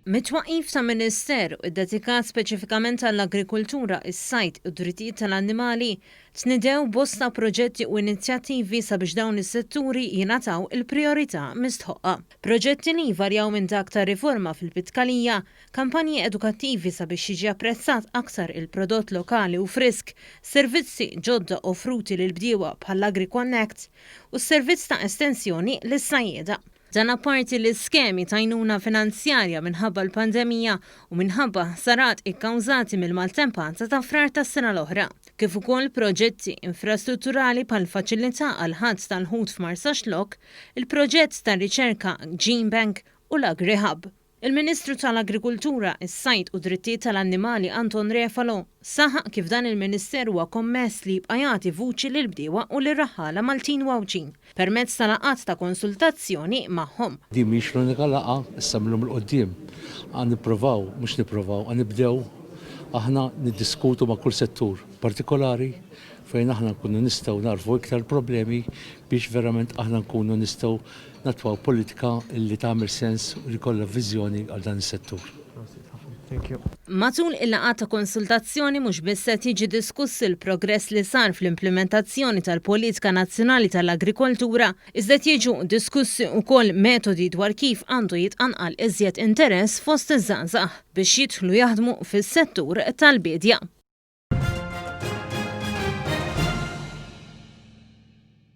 Mit-twaqqif ta' Ministeru ddedikat speċifikament għall-agrikultura, is-sajd u d-drittijiet tal-annimali, tnidew bosta proġetti u inizjattivi sabiex dawn is-setturi jingħataw il-prijorità mistħoqqa. Proġetti li jvarjaw minn dak ta' riforma fil-pitkalija, kampanji edukattivi sabiex jiġi apprezzat aktar il-prodott lokali u frisk, servizzi ġodda offruti lill-bdiewa bħall-AgriConnect, u s-servizz ta' estensjoni lis-sajjieda. Dan apparti li skemi t'għajnuna finanzjarja minħabba l-pandemija u minħabba ħsarat ikkawżati mill-maltempata ta' Frar tas-sena l-oħra, kif ukoll proġetti infrastrutturali bħall-faċilità għall-ħatt tal-ħut f'Marsaxlokk, il-proġett tar-riċerka GeneBank u l-AgriHub. Il-Ministru tal-Agrikultura, is-Sajd u d-Drittijiet tal-Annimali Anton Refalo saħaq kif dan il-Ministeru huwa kommess li jibqa' jagħti vuċi lill-bdiewa u lir-raħħala Maltin u Għawdxin permezz ta' laqgħat ta' konsultazzjoni magħhom. Din mhijiex l-unika laqgħa, issa mill-lum 'l quddiem għan nipprovaw, mhux nipprovaw, għan nibdew aħna niddiskutu ma' kull settur partikolari fejn aħna nkunu nistgħu nagħrfu iktar problemi biex verament aħna nkunu nistgħu Nattwaw politika li tagħmel sens u li jkollha viżjoni għal dan is-settur. Prosit ħafna. Thank you. Matul il-laqgħat ta' konsultazzjoni mhux biss qed jiġi diskuss il-progress li sar fl-implimentazzjoni tal-Politika Nazzjonali tal-Agrikoltura, iżda qed jiġu diskussi wkoll metodi dwar kif għandu jitqanqal iżjed interess fost iż-żgħażagħ biex jidħlu jaħdmu fis-settur tal-biedja.